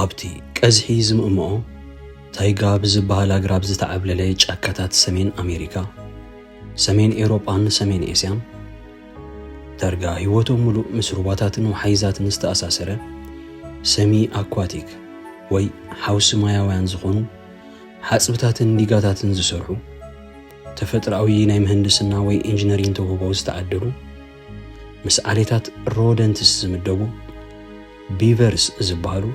ኣብቲ ቀዝሒ ዝምእምኦ ታይጋ ብዝበሃል ኣግራብ ዝተዓብለለ ጫካታት ሰሜን ኣሜሪካ፣ ሰሜን ኤውሮጳን ሰሜን ኤስያን ዳርጋ ህይወቶም ምሉእ ምስ ሩባታትን ወሓይዛትን ዝተኣሳሰረ ሰሚ ኣኳቲክ ወይ ሓውሲ ማያውያን ዝኾኑ ሓፅብታትን ዲጋታትን ዝሰርሑ ተፈጥሮኣዊ ናይ ምህንድስና ወይ ኢንጂነሪን ተውህቦ ዝተዓደሉ ምስ ዓሌታት ሮደንትስ ዝምደቡ ቢቨርስ ዝበሃሉ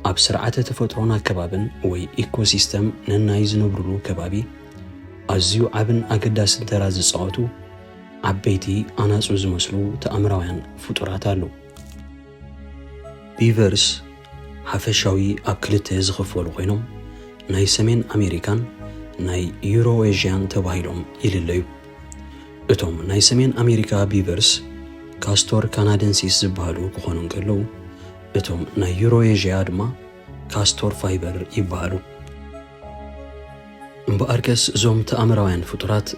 ኣብ ስርዓተ ተፈጥሮን ኣከባብን ወይ ኢኮሲስተም ነናይ ዝነብሩሉ ከባቢ ኣዝዩ ዓብን ኣገዳስን ተራ ዝጻወቱ ዓበይቲ ኣናጹ ዝመስሉ ተኣምራውያን ፍጡራት ኣሉ። ቢቨርስ ሓፈሻዊ ኣብ ክልተ ዝኽፈሉ ኮይኖም ናይ ሰሜን ኣሜሪካን ናይ ዩሮኤዥያን ተባሂሎም ይልለዩ። እቶም ናይ ሰሜን ኣሜሪካ ቢቨርስ ካስቶር ካናደንሲስ ዝበሃሉ ክኾኑ እንከለዉ እቶም ናይ ዩሮኤዥያ ድማ ካስቶር ፋይበር ይበሃሉ። እምበኣርከስ እዞም ተኣምራውያን ፍጡራት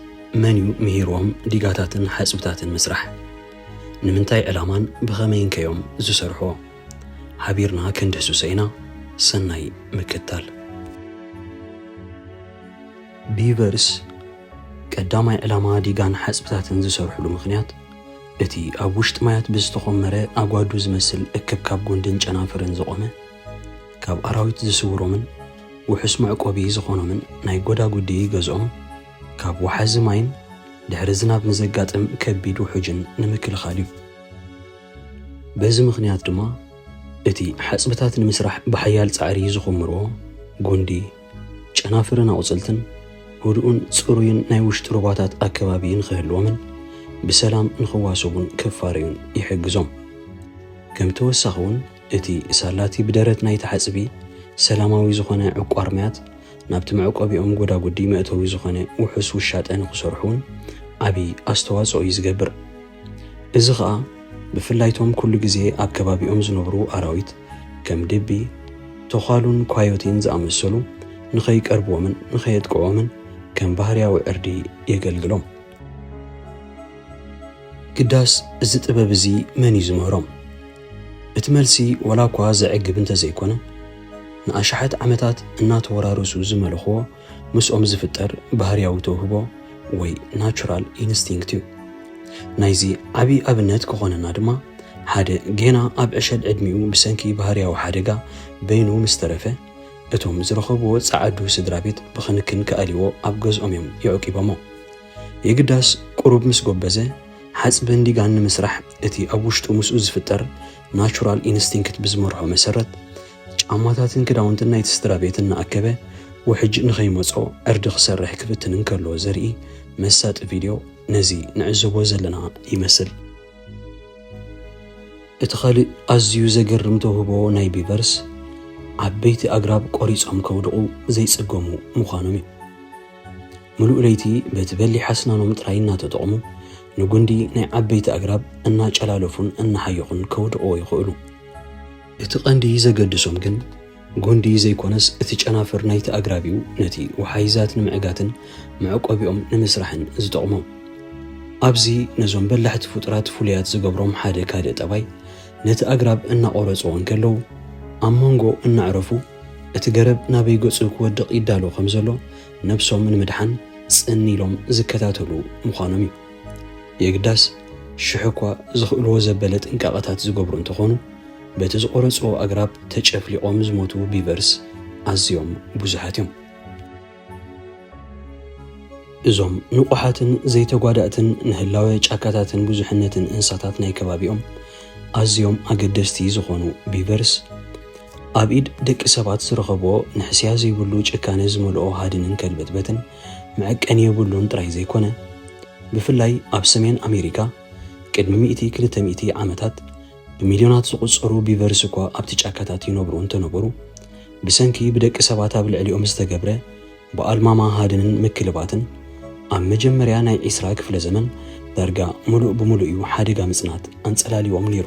መን እዩ ምሂርዎም ዲጋታትን ሓጽብታትን ምስራሕ? ንምንታይ ዕላማን ብኸመይን ከ እዮም ዝሰርሕዎ? ሓቢርና ክንድህስሶ ኢና። ሰናይ ምክትታል። ቢቨርስ ቀዳማይ ዕላማ ዲጋን ሓጽብታትን ዝሰርሑሉ ምኽንያት፣ እቲ ኣብ ውሽጢ ማያት ብዝተኾመረ ኣጓዱ ዝመስል እክብካብ ጉንድን ጨናፍርን ዝቖመ፣ ካብ ኣራዊት ዝስውሮምን ውሑስ መዕቆቢ ዝኾኖምን ናይ ጎዳጉዲ ገዝኦም ካብ ወሓዚ ማይን ድሕሪ ዝናብ ንዘጋጥም ከቢድ ውሑጅን ንምክልኻል እዩ። በዚ ምኽንያት ድማ እቲ ሓጽብታት ንምስራሕ ብሓያል ጻዕሪ ዝኹምርዎ ጉንዲ፣ ጨናፍርን ኣቑፅልትን ህዱእን ፅሩይን ናይ ውሽጢ ሩባታት ኣከባቢ ንኽህልዎምን ብሰላም ንኽዋሰቡን ክፋረዩን ይሕግዞም። ከም ተወሳኺ እውን እቲ ሳላቲ ብደረት ናይቲ ሓፅቢ ሰላማዊ ዝኾነ ዕቋር ማያት ናብቲ መዕቆቢኦም ጎዳጉዲ መእተዊ ዝኾነ ውሑስ ውሻጠ ንኽሰርሑ እውን ዓብዪ ኣስተዋፅኦ እዩ ዝገብር። እዚ ኸኣ ብፍላይ እቶም ኩሉ ግዜ ኣብ ከባቢኦም ዝነብሩ ኣራዊት ከም ድቢ፣ ቶዃሉን ኳዮቲን ዝኣመሰሉ ንኸይቀርብዎምን ንኸየጥቅዕዎምን ከም ባህርያዊ ዕርዲ የገልግሎም። ግዳስ እዚ ጥበብ እዚ መን እዩ ዝምህሮም? እቲ መልሲ ወላኳ ዘዕግብ እንተዘይኮነ ንኣሽሓት ዓመታት እናተወራረሱ ዝመለኹዎ ምስኦም ዝፍጠር ባህርያዊ ተውህቦ ወይ ናቹራል ኢንስቲንክት እዩ። ናይዚ ዓቢ ኣብነት ክኾነና ድማ ሓደ ጌና ኣብ ዕሸል ዕድሚኡ ብሰንኪ ባህርያዊ ሓደጋ በይኑ ምስ ተረፈ እቶም ዝረኸብዎ ጸዓዱ ስድራቤት ብክንክን ክኣልይዎ ኣብ ገዝኦም እዮም የዕቂቦሞ። የግዳስ ቁሩብ ምስ ጎበዘ ሓጽብን ዲጋን ንምስራሕ እቲ ኣብ ውሽጡ ምስኡ ዝፍጠር ናቹራል ኢንስቲንክት ብዝመርሖ መሰረት ጫማታትን ክዳውንትን ናይቲ ስድራቤት እናኣከበ ውሕጅ ንኸይመጾ ዕርዲ ክሰርሕ ክፍትን እንከሎ ዘርኢ መሳጢ ቪድዮ ነዚ ንዕዘቦ ዘለና ይመስል። እቲ ካልእ ኣዝዩ ዘገርም ተውህቦ ናይ ቢቨርስ፣ ዓበይቲ ኣግራብ ቈሪጾም ከውድቑ ዘይጽገሙ ምዃኖም እዩ። ምሉእ ለይቲ በቲ በሊሕ ኣስናኖም ጥራይ እናተጠቕሙ ንጕንዲ ናይ ዓበይቲ ኣግራብ እናጨላለፉን እናሓየኹን ከውድቕዎ ይኽእሉ። እቲ ቀንዲ ዘገድሶም ግን ጉንዲ ዘይኮነስ እቲ ጨናፍር ናይቲ ኣግራብ እዩ ነቲ ወሓይዛት ንምዕጋትን መዕቆቢኦም ንምስራሕን ዝጠቕሞም። ኣብዚ ነዞም በላሕቲ ፍጡራት ፍሉያት ዝገብሮም ሓደ ካልእ ጠባይ ነቲ ኣግራብ እናቖረጽዎ እንከለዉ ኣብ መንጎ እናዕረፉ እቲ ገረብ ናበይ ገጹ ክወድቕ ይዳሎ ከም ዘሎ ነብሶም ንምድሓን ጽን ኢሎም ዝከታተሉ ምዃኖም እዩ። የግዳስ ሽሕ'ኳ ዝኽእልዎ ዘበለ ጥንቃቐታት ዝገብሩ እንተኾኑ፣ በቲ ዝቖረጽዎ ኣግራብ ተጨፍሊቖም ዝሞቱ ቢቨርስ ኣዝዮም ብዙሓት እዮም። እዞም ንቑሓትን ዘይተጓዳእትን ንህላወ ጫካታትን ብዙሕነትን እንስሳታት ናይ ከባቢኦም ኣዝዮም ኣገደስቲ ዝኾኑ ቢቨርስ፣ ኣብ ኢድ ደቂ ሰባት ዝረኸብዎ ንሕስያ ዘይብሉ ጭካነ ዝመልኦ ሃድንን ከልበትበትን መዐቀኒ የብሉን ጥራይ ዘይኮነ፣ ብፍላይ ኣብ ሰሜን ኣሜሪካ ቅድሚ ሚእቲ ክልተ ሚእቲ ዓመታት፣ ብሚልዮናት ዝቑጸሩ ቢቨርስ እኳ ኣብቲ ጫካታት ይነብሩ እንተነበሩ፣ ብሰንኪ ብደቂ ሰባት ኣብ ልዕሊኦም ዝተገብረ ብኣልማማ ሃድንን ምክልባትን፣ ኣብ መጀመርያ ናይ ዕስራ ክፍለ ዘመን ዳርጋ ምሉእ ብምሉእ እዩ ሓደጋ ምጽናት ኣንጸላልዩዎም ነይሩ።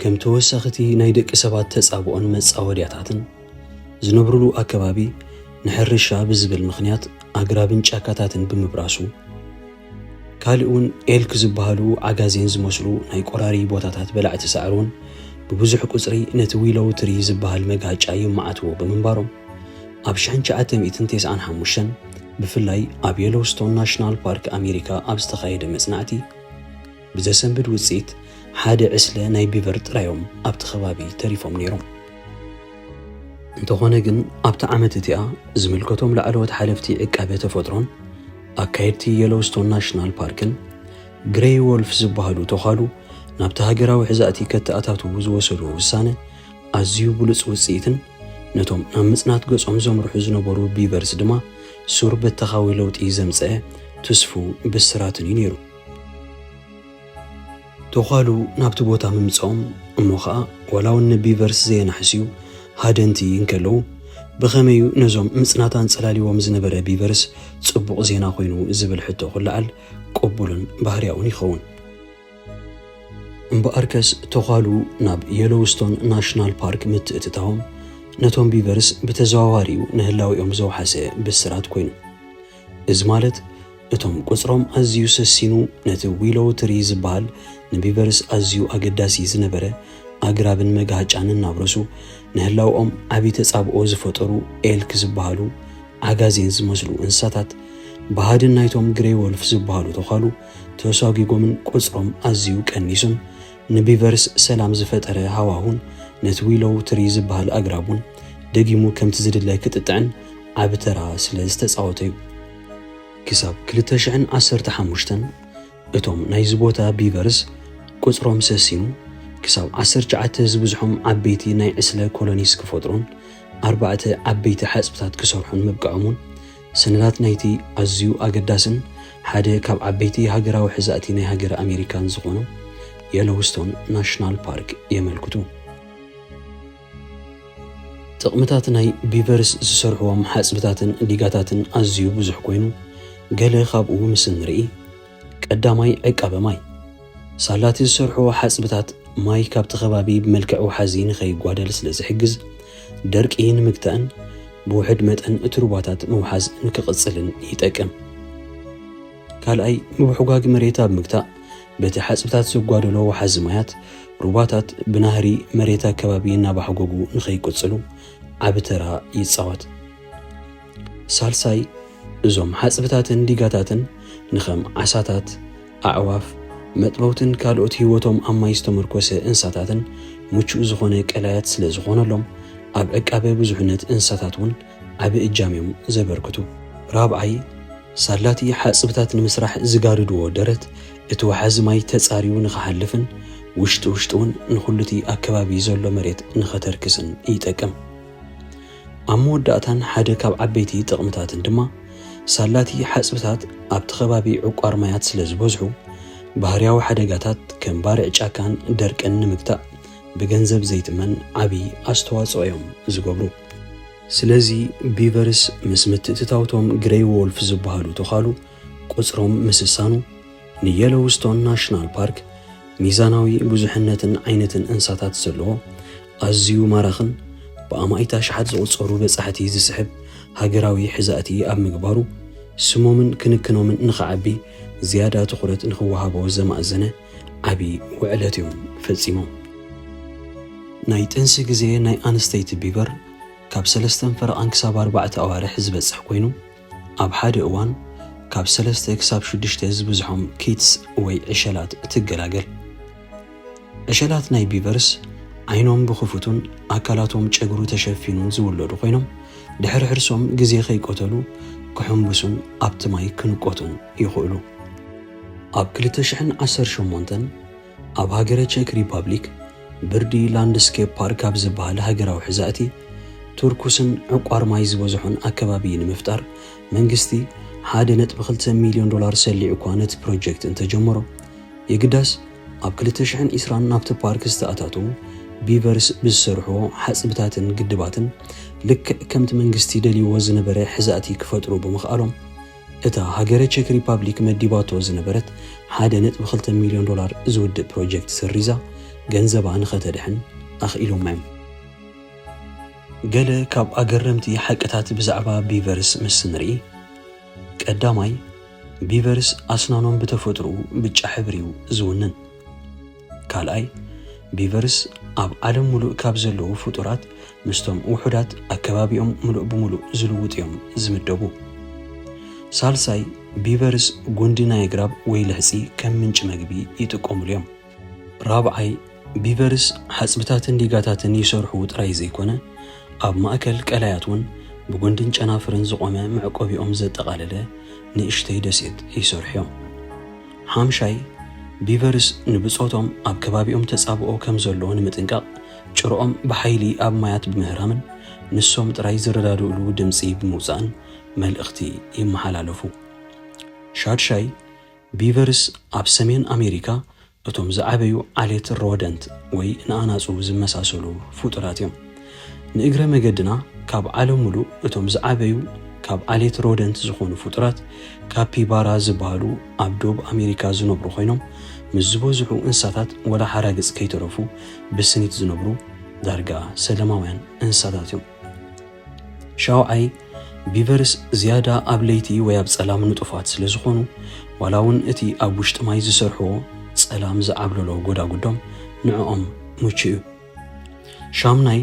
ከም ተወሳኺቲ ናይ ደቂ ሰባት ተጻብኦን መጻወድያታትን፣ ዝነብሩሉ ኣከባቢ ንሕርሻ ብዝብል ምኽንያት ኣግራብን ጫካታትን ብምብራሱ፣ ካልእ እውን ኤልክ ዝበሃሉ ዓጋዜን ዝመስሉ ናይ ቆራሪ ቦታታት በላዕቲ ሳዕሪ እውን ብብዙሕ ቁፅሪ ነቲ ዊሎው ትሪ ዝበሃል መግሃጫ ይመዓትዎ ብምንባሮም ኣብ ሽሕን ትሽዓተ ሚእትን ቴስዓን ሓሙሽተን ብፍላይ ኣብ የሎውስቶን ናሽናል ፓርክ ኣሜሪካ ኣብ ዝተኻየደ መፅናዕቲ ብዘሰንብድ ውፅኢት ሓደ ዕስለ ናይ ቢቨር ጥራዮም ኣብቲ ከባቢ ተሪፎም ነይሮም። እንተኾነ ግን ኣብቲ ዓመት እቲኣ ዝምልከቶም ላዕለዎት ሓለፍቲ ዕቃበ ተፈጥሮን ኣካየድቲ የሎውስቶን ናሽናል ፓርክን ግሬይ ዎልፍ ዝበሃሉ ቶዃሉ ናብቲ ሃገራዊ ሕዛእቲ ከተኣታትዉ ዝወሰድዎ ውሳነ ኣዝዩ ብሉጽ ውጽኢትን ነቶም ናብ ምጽናት ገጾም ዘምርሑ ዝነበሩ ቢቨርስ ድማ ሱር በተኻዊ ለውጢ ዘምጸኤ ትስፉው ብስራትን'ዩ ነይሩ። ቶዃሉ ናብቲ ቦታ ምምጽኦም እሞ ኸኣ ዋላውን ንቢቨርስ ዘየናሕስዩ ሃደንቲ እንከለዉ ብኸመይ'ዩ ነዞም ምጽናት ኣንጸላልይዎም ዝነበረ ቢቨርስ ጽቡቕ ዜና ኮይኑ ዝብል ሕቶ ክለዓል ቅቡልን ባህርያውን ይኸውን። እምበኣርከስ ቶዃሉ ናብ የሎውስቶን ናሽናል ፓርክ ምትእትታዎም ነቶም ቢቨርስ ብተዘዋዋሪ'ዩ ንህላዌኦም ዘውሓሰ ብስራት ኮይኑ። እዚ ማለት እቶም ቁጽሮም ኣዝዩ ሰሲኑ ነቲ ዊሎው ትሪ ዝበሃል ንቢቨርስ ኣዝዩ ኣገዳሲ ዝነበረ ኣግራብን መጋህጫን እናብረሱ ንህላውኦም ዓቢ ተጻብኦ ዝፈጠሩ ኤልክ ዝበሃሉ ዓጋዜን ዝመስሉ እንስሳታት ብሃድን ናይቶም ግሬይ ወልፍ ዝበሃሉ ተዃሉ ተሷጒጎምን ቁጽሮም ኣዝዩ ቀኒሱን ንቢቨርስ ሰላም ዝፈጠረ ሃዋሁን ነቲ ዊሎው ትሪ ዝበሃል ኣግራቡን ደጊሙ ከምቲ ዝድለ ክጥጥዕን ዓቢ ተራ ስለ ዝተጻወተ'ዩ። ክሳብ ክልተ ሽሕን ዓሰርተ ሓሙሽተን እቶም ናይዚ ቦታ ቢቨርስ ቍጽሮም ሰሲኑ ክሳብ ዓሰርተ ትሽዓተ ዝብዝሖም ዓበይቲ ናይ ዕስለ ኮሎኒስ ክፈጥሩን ኣርባዕተ ዓበይቲ ሓጽብታት ክሰርሑን ምብቅዖም'ውን ሰነዳት ናይቲ ኣዝዩ ኣገዳስን ሓደ ካብ ዓበይቲ ሃገራዊ ሕዛእቲ ናይ ሃገረ ኣሜሪካን ዝኾኑ የሎውስቶን ናሽናል ፓርክ የመልክቱ። ጥቕምታት ናይ ቢቨርስ ዝሰርሕዎም ሓጽብታትን ዲጋታትን ኣዝዩ ብዙሕ ኮይኑ፣ ገለ ካብኡ ምስ እንርኢ፣ ቀዳማይ ዕቃበ ማይ፣ ሳላቲ ዝሰርሕዎ ሓጽብታት ማይ ካብቲ ከባቢ ብመልክዕ ወሓዚ ንኸይጓደል ስለ ዝሕግዝ፣ ደርቂ ንምግታእን ብውሑድ መጠን እቲ ሩባታት ምውሓዝ ንክቕጽልን ይጠቅም። ካልኣይ፣ ምብሕጓግ መሬት ኣብ ምግታእ፣ በቲ ሓጽብታት ዘጓደሎ ወሓዚ ማያት፣ ሩባታት ብናህሪ መሬት ኣከባቢ እናባሕጎጉ ንኸይቅጽሉ ዓቢ ተራ ይጻወት። ሳልሳይ፣ እዞም ሓጽብታትን ዲጋታትን ንኸም ዓሳታት፣ ኣዕዋፍ፣ መጥበውትን ካልኦት ህይወቶም ኣብ ማይ ዝተመርኮሰ እንስሳታትን ምቹእ ዝኾነ ቀላያት ስለ ዝኾነሎም፣ ኣብ ዕቃበ ብዙሕነት እንስሳታት እውን ዓቢ እጃም እዮም ዘበርክቱ። ራብዓይ፣ ሳላቲ ሓጽብታት ንምስራሕ ዝጋርድዎ ደረት፣ እቲ ወሓዚ ማይ ተጻርዩ ንኸሓልፍን ውሽጢ ውሽጢ እውን ንኹሉቲ ኣከባቢ ዘሎ መሬት ንኸተርክስን ይጠቅም። ኣብ መወዳእታን ሓደ ካብ ዓበይቲ ጥቕምታትን ድማ፣ ሳላቲ ሓጽብታት ኣብቲ ከባቢ ዕቋር ማያት ስለ ዝበዝሑ፣ ባህርያዊ ሓደጋታት ከም ባርዕ ጫካን ደርቅን ንምግታእ ብገንዘብ ዘይትመን ዓቢ ኣስተዋጽኦ'ዮም ዝገብሩ። ስለዚ፣ ቢቨርስ ምስ ምትእትታው'ቶም ግረይ ዎልፍ ዝበሃሉ ተዃሉ ቁጽሮም ምስሳኑ፣ ንየሎውስቶን ናሽናል ፓርክ፣ ሚዛናዊ ብዙሕነትን ዓይነትን እንስሳታት ዘለዎ፣ ኣዝዩ ማራኽን ብኣማኢት ኣሽሓት ዝቑጸሩ በጻሕቲ ዝስሕብ ሃገራዊ ሕዛእቲ ኣብ ምግባሩ፣ ስሞምን ክንክኖምን ንኽዓቢ ዝያዳ ትኹረት ንኽወሃቦ ዘማእዘነ ዓቢ ውዕለት እዮም ፈጺሞም። ናይ ጥንሲ ግዜ ናይ ኣንስተይቲ ቢበር ካብ ሰለስተን ፈረቓን ክሳብ ኣርባዕተ ኣዋርሕ ዝበጽሕ ኮይኑ፣ ኣብ ሓደ እዋን ካብ ሰለስተ ክሳብ ሽዱሽተ ዝበዝሖም ኪትስ ወይ ዕሸላት ትገላገል። ዕሸላት ናይ ቢቨርስ ዓይኖም ብኽፉቱን ኣካላቶም ጨግሩ ተሸፊኑን ዝውለዱ ኮይኖም፣ ድሕሪ ሕርሶም ግዜ ከይቀተሉ ክሕምብሱን ኣብቲ ማይ ክንቆቱን ይኽእሉ። ኣብ ክልተ ሽሕን ዓሰርተ ሸሞንተን፣ ኣብ ሃገረ ቸክ ሪፓብሊክ ብርዲ ላንድስኬፕ ፓርክ ኣብ ዝበሃል ሃገራዊ ሕዛእቲ፣ ትርኩስን ዕቋር ማይ ዝበዝሖን ኣከባቢ ንምፍጣር መንግስቲ ሓደ ነጥቢ ክልተ ሚልዮን ዶላር ሰሊዑ'ኳ ነቲ ፕሮጀክት እንተጀመሮ፣ የግዳስ ኣብ ክልተ ሽሕን ዕስራን ናብቲ ፓርክ ዝተኣታተዉ ቢቨርስ ብዝሰርሕዎ ሓጽብታትን ግድባትን ልክዕ ከምቲ መንግስቲ ደልይዎ ዝነበረ ሕዛእቲ ክፈጥሩ ብምኽኣሎም፣ እታ ሃገረ ቼክ ሪፓብሊክ መዲባቶ ዝነበረት ሓደ ነጥቢ ክልተ ሚልዮን ዶላር ዝውድእ ፕሮጀክት ሰሪዛ ገንዘባ ንኸተድሕን ኣኽኢሎማ እዮም። ገለ ካብ ኣገረምቲ ሓቅታት ብዛዕባ ቢቨርስ ምስ ንርኢ፣ ቀዳማይ፣ ቢቨርስ ኣስናኖም ብተፈጥሮኡ ብጫ ሕብሪ'ዩ ዝውንን። ካልኣይ፣ ቢቨርስ ኣብ ዓለም ምሉእ ካብ ዘለዉ ፍጡራት ምስቶም ውሑዳት ኣከባቢኦም ምሉእ ብምሉእ ዝልውጡ እዮም ዝምደቡ። ሳልሳይ፣ ቢቨርስ ጉንዲ ናይ ኣግራብ ወይ ልሕጺ ከም ምንጪ መግቢ ይጥቀሙሉ እዮም። ራብዓይ፣ ቢቨርስ ሓጽብታትን ዲጋታትን ይሰርሑ ጥራይ ዘይኮነ፣ ኣብ ማእከል ቀላያት እውን ብጉንድን ጨናፍርን ዝቖመ መዕቆቢኦም ዘጠቓለለ ንእሽተይ ደሴት ይሰርሑ እዮም። ሓምሻይ፣ ቢቨርስ ንብጾቶም ኣብ ከባቢኦም ተጻብኦ ከም ዘሎ ንምጥንቃቕ ጭርኦም ብሓይሊ ኣብ ማያት ብምህራምን ንሶም ጥራይ ዝረዳድእሉ ድምጺ ብምውጻእን መልእኽቲ ይመሓላለፉ። ሻድሻይ፣ ቢቨርስ ኣብ ሰሜን ኣሜሪካ እቶም ዝዓበዩ ዓሌት ሮደንት ወይ ንኣናጹ ዝመሳሰሉ ፍጡራት እዮም። ንእግረ መገድና ካብ ዓለም ምሉእ እቶም ዝዓበዩ ካብ ዓሌት ሮደንት ዝኾኑ ፍጡራት ካፒባራ ዝበሃሉ ኣብ ዶብ ኣሜሪካ ዝነብሩ ኮይኖም ምስ ዝበዝሑ እንስሳታት ወላ ሓራግጽ ከይተረፉ ብስኒት ዝነብሩ ዳርጋ ሰለማውያን እንስሳታት እዮም። ሻውዓይ ቢቨርስ ዝያዳ ኣብ ለይቲ ወይ ኣብ ጸላም ንጡፋት ስለ ዝኾኑ ዋላ እውን እቲ ኣብ ውሽጢ ማይ ዝሰርሕዎ ጸላም ዝዓብለሎ ጎዳጉዶም ንዕኦም ምቹእ እዩ። ሻሙናይ፣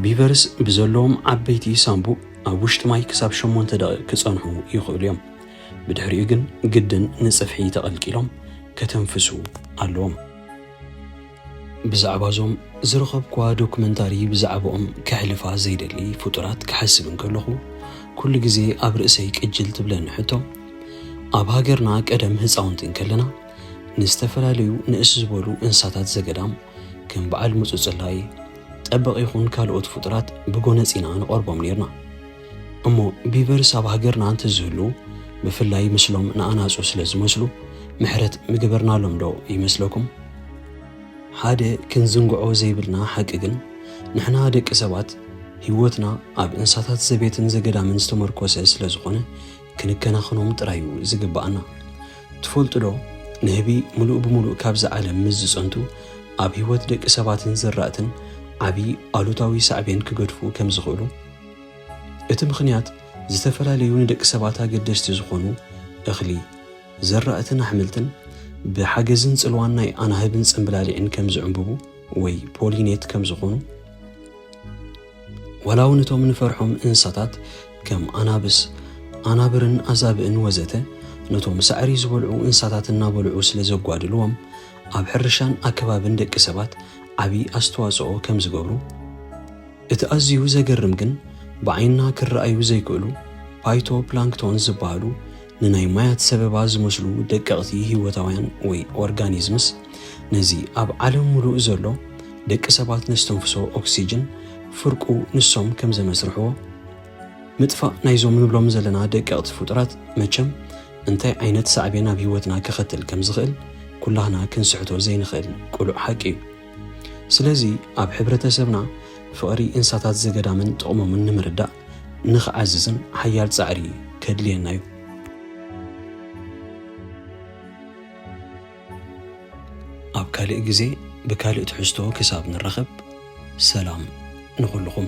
ቢቨርስ ብዘለዎም ዓበይቲ ሳንቡእ ኣብ ውሽጢ ማይ ክሳብ ሸሞንተ ደቒቕ ክጸንሑ ይኽእሉ እዮም፣ ብድሕሪኡ ግን ግድን ንጽፍሒ ተቐልቂሎም ከተንፍሱ ኣለዎም። ብዛዕባ እዞም ዝረኸብኩዋ ዶክመንታሪ ብዛዕብኦም ከሕልፋ ዘይደሊ ፍጡራት ክሓስብ እንከለኹ ኩሉ ግዜ ኣብ ርእሰይ ቅጅል ትብለኒ ሕቶ፣ ኣብ ሃገርና ቀደም ህጻውንቲ እንከለና፣ ንዝተፈላለዩ ንእስ ዝበሉ እንስሳታት ዘገዳም ከም በዓል ምጹጽላይ፣ ጠበቕ ይኹን ካልኦት ፍጡራት ብጎነጽ ኢና ንቐርቦም ኔርና። እሞ ቢቨርስ ኣብ ሃገርና እንተዝህሉ ብፍላይ ምስሎም ንኣናጹ ስለ ዝመስሉ ምሕረት ምገበርናሎም ዶ ይመስለኩም? ሓደ ክንዝንግዖ ዘይብልና ሓቂ ግን ንሕና ደቂ ሰባት ህይወትና ኣብ እንስሳታት ዘቤትን ዘገዳምን ዝተመርኮሰ ስለ ዝኾነ ክንከናኸኖም ጥራይ እዩ ዝግብኣና። ትፈልጡዶ ንህቢ ምሉእ ብምሉእ ካብዛ ዓለም ምስ ዝጸንቱ ኣብ ህይወት ደቂ ሰባትን ዘራእትን ዓቢ ኣሉታዊ ሳዕቤን ክገድፉ ከም ዝኽእሉ? እቲ ምኽንያት ዝተፈላለዩ ንደቂ ሰባት ኣገደስቲ ዝኾኑ እኽሊ፣ ዘራእትን ኣሕምልትን ብሓገዝን ጽልዋን ናይ ኣናህብን ጽምብላሊዕን ከም ዝዕምብቡ ወይ ፖሊኔት ከም ዝኾኑ ዋላ እውን እቶም ንፈርሖም እንስሳታት ከም ኣናብስ፣ ኣናብርን ኣዛብእን ወዘተ ነቶም ሳዕሪ ዝበልዑ እንስሳታት እናበልዑ ስለ ዘጓድልዎም ኣብ ሕርሻን ኣከባብን ደቂ ሰባት ዓቢ ኣስተዋጽኦ ከም ዝገብሩ እቲ ኣዝዩ ዘገርም ግን ብዓይንና ክረኣዩ ዘይክእሉ ፓይቶ ፕላንክቶን ዝበሃሉ ንናይ ማያት ሰበባ ዝመስሉ ደቀቕቲ ህይወታውያን ወይ ኦርጋኒዝምስ ነዚ ኣብ ዓለም ምሉእ ዘሎ ደቂ ሰባት ነስተንፍሶ ኦክሲጅን ፍርቁ ንሶም ከም ዘመስርሕዎ ምጥፋእ ናይዞም ንብሎም ዘለና ደቀቕቲ ፍጡራት መቸም እንታይ ዓይነት ሳዕቤን ኣብ ህይወትና ከኸትል ከም ዝኽእል ኩላህና ክንስሕቶ ዘይንኽእል ቅሉዕ ሓቂ እዩ። ስለዚ ኣብ ሕብረተሰብና ፍቕሪ እንስሳታት ዘገዳምን ጥቕሞምን ንምርዳእ ንኽዓዝዝን ሓያል ጻዕሪ ከድልየና እዩ። ኣብ ካልእ ግዜ ብካልእ ትሕዝቶ ክሳብ ንራኸብ ሰላም ንኹልኹም።